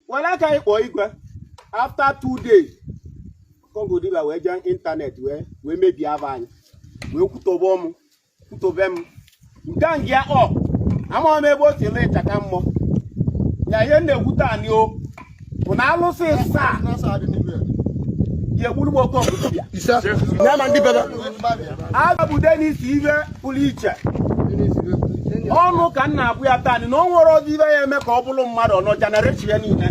were aka anyị kpọọ igwe after two days oke ọgwụ dibia wee jee internet wee wee mebie aba anyị wee kwutobe m kwutobe m nke a ngịa ọ amaghị m ebe o si ele ịchaka mmụọ ya ihe m na-ekwu taa nụ ọ bụ na alụsị asaa ya-egburu m oke ọgwụ dibia Isa. Ya ma ndị bebe. agabude n'isi ive pụrụ iche ọnụ ka m na-abụ ya taa na o nwerọzi ihe ya-eme ka ọ bụrụ mmadụ ọnọ generation ya niile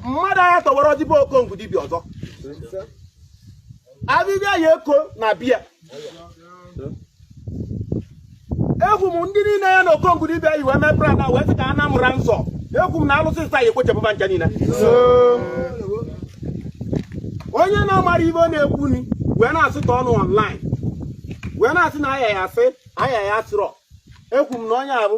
mmadụ anya tọwara ọdịbe oke ọgwụ dibịa ọzọ abịbịa ya eko na biya ekwu m ndị niile ya na oke ọgwụ dibịa yi wee mee brada wee sị ka a na-amụra nsọ ekwu m na alụsị asaa ya-ekpochapụ va ncha niile onye na-amarọ ive ọ na-ekwu ni wee na-asị ka ọnụ online wee na-asị na aya ya asị aya ya asịrọ ekwu m na onye avụ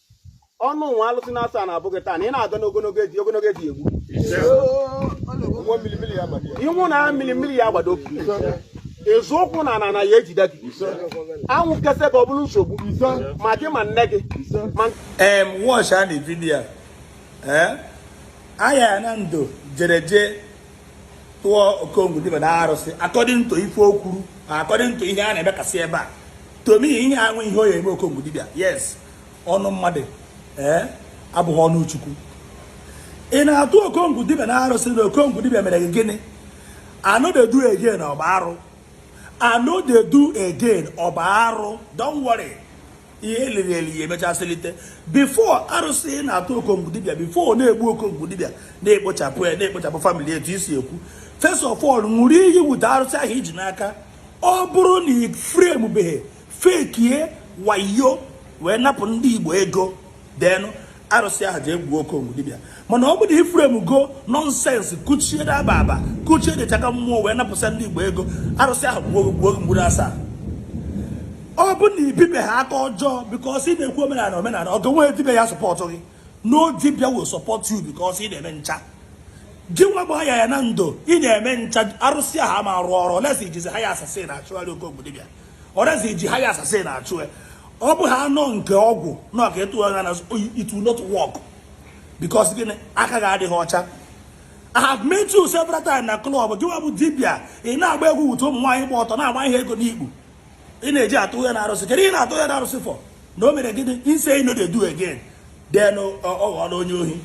ọnụ nwa alụsị na-asụ a na-abụ gị taa na ị na-aga n'ogologo ezi ogologo ezi egbu ị nọ na mmiri mmiri ya agbado ị zọ ụkwụ n'ana ana ya-ejide gị anwụ kesa ka ọ bụrụ nsogbu ma gị ma nne gị m watchana video aya na ndo jere jee tụọ oke ọgwụ dibịa na arụsị according to ife o kwuru according to ihe a na-emekasị ebe a to me enweghị ihe ọ ya-eme oke ọgwụ dibịa yes ọnụ mmadụ ee abụghị ọnụ chukwu ị na-atụ oke ọgwụ dibịa na arụsị na oke ọgwụ dibịa mere gị gịnị I no dey do again ọ bụ arụ I no dey do again ọ bụ arụ don't worry ihe e liri eli ya-emecha selite before arụsị ị na-atụ oke ọgwụ dibịa before ọ na-egbu oke ọgwụ dibịa na-ekpochapụ ya na-ekpochapụ family etu i si ekwu first of all ṅụrụ iyi bute arụsị ahụ i ji n'aka ọ bụrụ na ị framebeghị fekie wayo wee napụ ndị igbo ego then arụsị ahụ ya-egbu oke ọgwụ dibịa mana ọ bụrụ ị framego nonsense kuchie daba aba kuchie dịchaka mmụọ wee napụsa ndị igbo ego arụsị ahụ gbuo gị mgburu asaa ọ bụ na i bibe ha aka ọjọọ because ị na-ekwu omenala omenala ọ ga-enwe dibịa ya-support gị no dibịa will support you because ị na-eme ncha gị nwa bụ ayaya na ndo ị na-eme ncha arụsị ahụ ama-arụ ọrụ unless i jizi hired assassin achụgharị oke ọgwụ dibịa or else i ji hired assassin achụ ya ọ bụ ha anọ nke ọgwụ na ọka etu ha na it will not work because gịnị aka gị adịghị ọcha I have met you several times na club gị nwa bụ dibia ị na-agba egwu bute ụmụ nwaanyị gba ọtọ na-agba ha ego n'ikpu ị na-eje atụ ya na arụsị kedu ị na-atụ ya na arụsị for na o mere gịnị ọ sị I no dey do again then ọ ghọọla onye ohi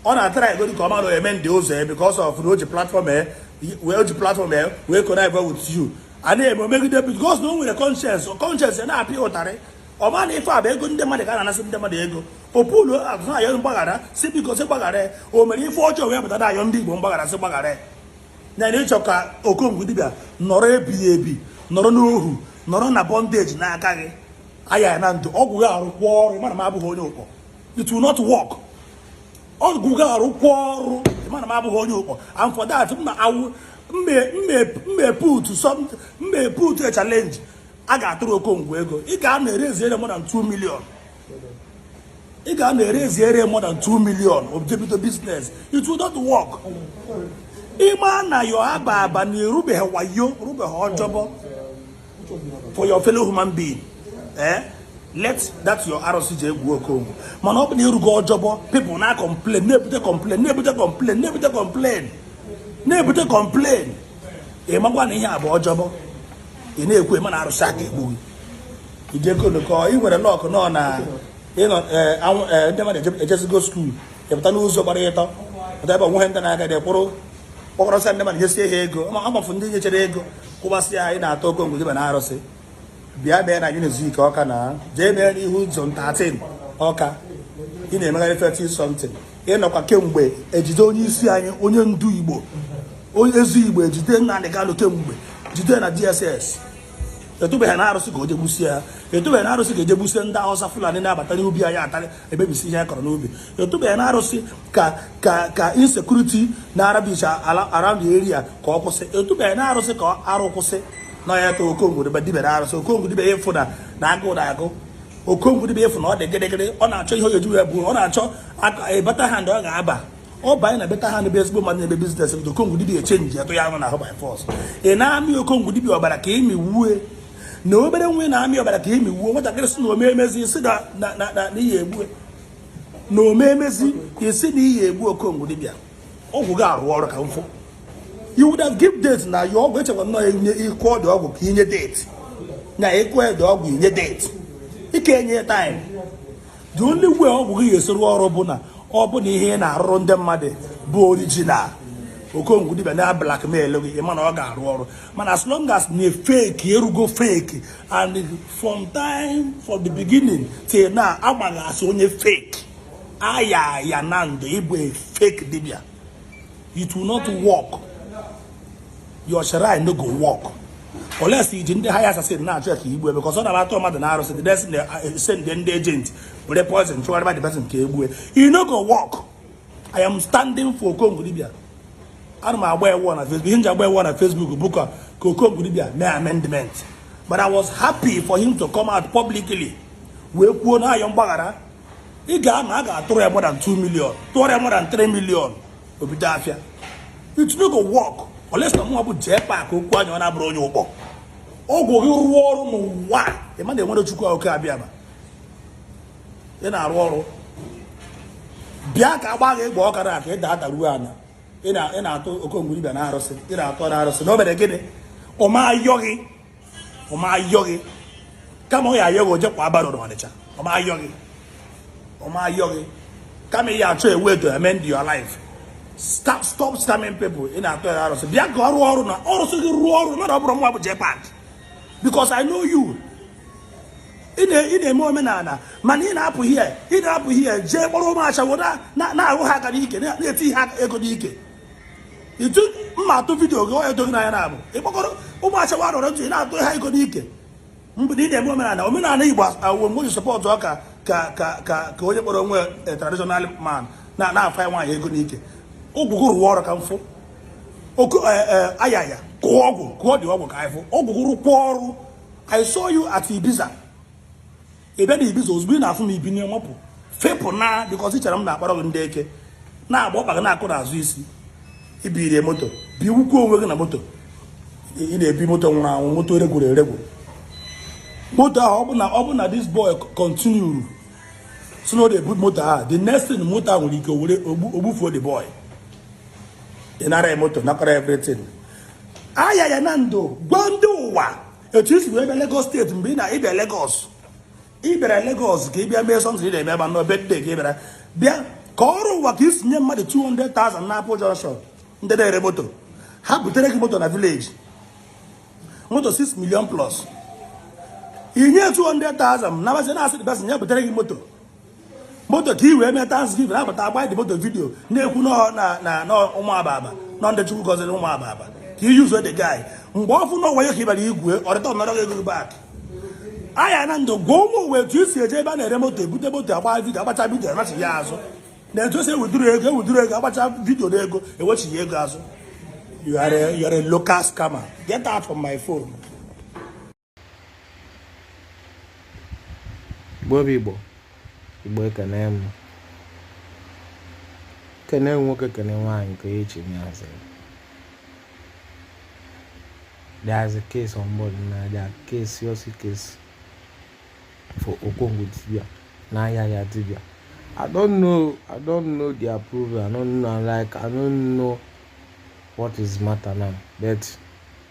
ọ na-atara ego dịka ọma na eme ndị ụzọ ya because of na o ji platform ya wee ji platform ya wee connect with you a na-eme omegide because na o nwere conscience conscience ya na-apịa ụtarị ọ ma na ife a bụ ego ndị mmadụ ka a na-anasị ndị mmadụ ego opulu azụ na-ayọ mgbaghara sị biko sị gbaghara ya o mere ife ọjọọ wee pụta na-ayọ ndị igbo mgbaghara sị gbaghara ya na na ị chọ ka okongwu dibịa nọrọ ebighị ebi nọrọ n'ohu nọrọ na bọndeji n'aka gị aya ya na ndụ ọgwụ gị arụkwa ọrụ ma na m abụghị onye ụkpọ it will not work ọgwụ gị arụkwa ọrụ ma na m abụghị onye ụkpọ and for that m na awụ mmeputu mmeputu a challenge a ga-atụrụ okongwu ego ị ga na-erezi ere more than 2 million ị ga na-erezi ere more than 2 million o ji ebido business it will not work ị ma na yo aba aba na ị rụbeghị wayo rụbeghị ọjọbọ for your fellow human being eh let that your arụsị jegbuo okongwu mana ọ bụ na ị rụgo ọjọbọ people na complain na-ebute complain na-ebute complain na-ebute complain na-ebute complain ị makwa na ihe a bụ ọjọbọ ị na-ekwu ị ma na arụsị aka egbu gị idekolokọ ị nwere luck nọ na ị nọ eh, eh, ndị mmadụ ejezigo skuul ị pụta n'ụzọ gbara ịtọ pụta ebe onweghị ndị na-aga dị kwụrụ kpọkọrọsịa ndị mmadụ nyesie ha ego amafu ndị nyechere ego kụbasị ya anyị na-atụ okongwu dibịa na arụsị bịa bịa na unity nke Ọka na jee bịa n'ihu zone 13 Ọka ị na-emegharị 30 something ị nọkwa kemgbe ejide onye isi anyị onye ndu igbo onye ezi igbo ejide Nnamdi Kanu kemgbe ejide na DSS ị tụbeghị na arụsị ka o jegbusie ha ị tụbeghị na arụsị ka o jegbusie ndị Hausa Fulani na-abata n'ubi anyị atarị emebisị ihe a kọrọ n'ubi ị tụbeghị na arụsị ka ka ka insecurity na-aravage around the area ka ọ kwụsị ị tụbeghị na arụsị ka arụ kwụsị na ya ka okongwu dibịa dibe na arụsị okongwu dibịa ị fụ na na agụ na-agụ okongwu dibịa ị fụ na ọ dị gịrịgịrị ọ na-achọ ihe oyeju ya bụ ọ na-achọ better hand ọ ga-aba ọ banye na better hand bụ ezigbo mmadụ na-eme business okongwu dibịa echenji ya tụ ya ahụ na ahụ by force ị na-amị okongwu dibịa ọbara ka ị mị wue na obere nwa na-amị ọbara ka imi wuo nwatakịrị sị na ome emezi isi na iyi egbu na ome emezi isi na iyi egbu okongwu dibịa ọgwụ gị arụ ọrụ ka m fụ you would have give date na ya ọgwụ echekwa nnọọ enye ịkụ ọdụ ọgwụ ka i nye date na ịkụ ọdụ ọgwụ i nye date ị ka enye time the only way ọgwụ gị ga-esi rụ ọrụ bụ na ọ bụ na ihe ị na-arụrụ ndị mmadụ bụ original okongwu dibia na-ablackmail gị ị ma na ọ ga-arụ ọrụ mana as long as na ị fake ị rụgo fake and from time from the beginning till now agbaghị asị onye fake aya ya na ndụ ị bụ fake dibia it will not work your shrine no go work unless i ji ndị hired assassin na-achụ ya ka i gbue because ọ na-atọ mmadụ n'arụsị the next uh, send ndị agent were poison chụgharịba the person ka e gbue you no go work i am standing for okongo dibia ana m agba ewu na facebook ihe m ji agba ewu na facebook bụ ka ka okongo dibia mee amendment but i was happy for him to come out publicly wee kwuo na-ayọ mgbaghara ị ga-ama a ga-atụrụ ya more than 2 million tụọrọ ya more than 3 million o bido afịa it no go work unless na mụnwa bụ jepak okwu anya ọ na-abụrụ onye ụkpọ ọgwụ gị rụọ ọrụ n'ụwa ị ma na e nwere chukwu okike abịama ị na-arụ ọrụ bịa ka agba gị ị gba ọkara aka ị da adaruo anya ị na-atọ okongo dibia n'arụsị ị na-atọ n'arụsị na o mere gịnị ọ ma-ayọ gị ọ ma-ayọ gị kama ọ ya-ayọ gị o je kwaa barrow n'ọnịcha ọ ma-ayọ gị ọ ma-ayọ gị kama ị ya-achọ a way to amend your life stop stop scamming people ị na-atọ ya arụsị bịa ka ọ rụọ ọrụ na arụsị gị rụọ ọrụ mmadụ ọ bụrọ mụwa bụ jepak because i know you ị na-eme omenala mana ị na-apụ ihe ị na-apụ ihe jee kpọrọ ụmụ ashawo na-ahụ ha aka n'ike na-eti ha ego n'ike itu m ma-atụ video gị onye doghị n'anya na-abụ ịkpọkọrọ ụmụ ashawo rọrọ ntụ ị na-atụ ha ego n'ike mgbe ị na-eme omenala omenala igbo awụ mgbe ji support ọ ka ka ka ka ka onye kpọrọ onwe eh, traditional man na na-afa nwaanyị ego n'ike ọgwụ gị rụwa ọrụ ka m fụ oku eh, eh, ayaya kọọ ọgwụ kọọdị ọgwụ ka anyị fụ ọgwụ gị rụkwa ọrụ I saw you at Ibiza ị bịa na ibiza ozugbo ị na-afụ m i binye mapụ fepụ na because i chere m na-akpara gị ndị eke na-agba ọkpa gị na-akụ n'azụ isi i biri moto bigbukwa onwe gị na moto ị na-ebi moto nwụrụ anwụ moto eregwuru eregwu moto ahụ ọbụna ọbụna this boy continue si na ọ na-ebu moto ahụ the next thing moto ahụ nwere ike were gbufuo the boy ị nara ya moto nakọrọ everything ayaya na ndụ gwa ndị ụwa etu i si wee bịa Lagos state mgbe ị na ịbịa Lagos ị bịara Lagos ka ị bịa mee something ị na-eme ebe a nọ ebe dị ka ị bịara bịa kọọrọ ụwa ka i si nye mmadụ 200,000 na Apple Junction ndị na-ere moto ha butere gị moto na village moto 6 million plus i nye 200,000 na basị na-asị dị basị nye butere gị moto moto ka i wee mee thanksgiving abata agba the moto video na-ekwu na ụmụ aba aba nọ ndị chukwu gọziri ụmụ aba aba ka i yuzuo the guy mgbe ọ fụ na ọwa ya ka ị bara igwe ọ returnọrọ gị ego back aya na ndụ gwa ụmụ ụwa etu i si eje ebe a na-ere moto ebute moto agba video agbacha video anachi ya azụ na etu e si ewithdraw ego ewithdraw ego agbacha video na ego ewechi ya ego azụ you are a, you are a local scammer get out from my phone Igbo bụ Igbo Igbo ekene m kene nwoke kene nwaanyị nke onye chiri ya zere there's a case on board another case serious case for Okongwu Dibia na Ayaka Dibia I don't know I don't know the approval I don't know like I don't know what is matter now but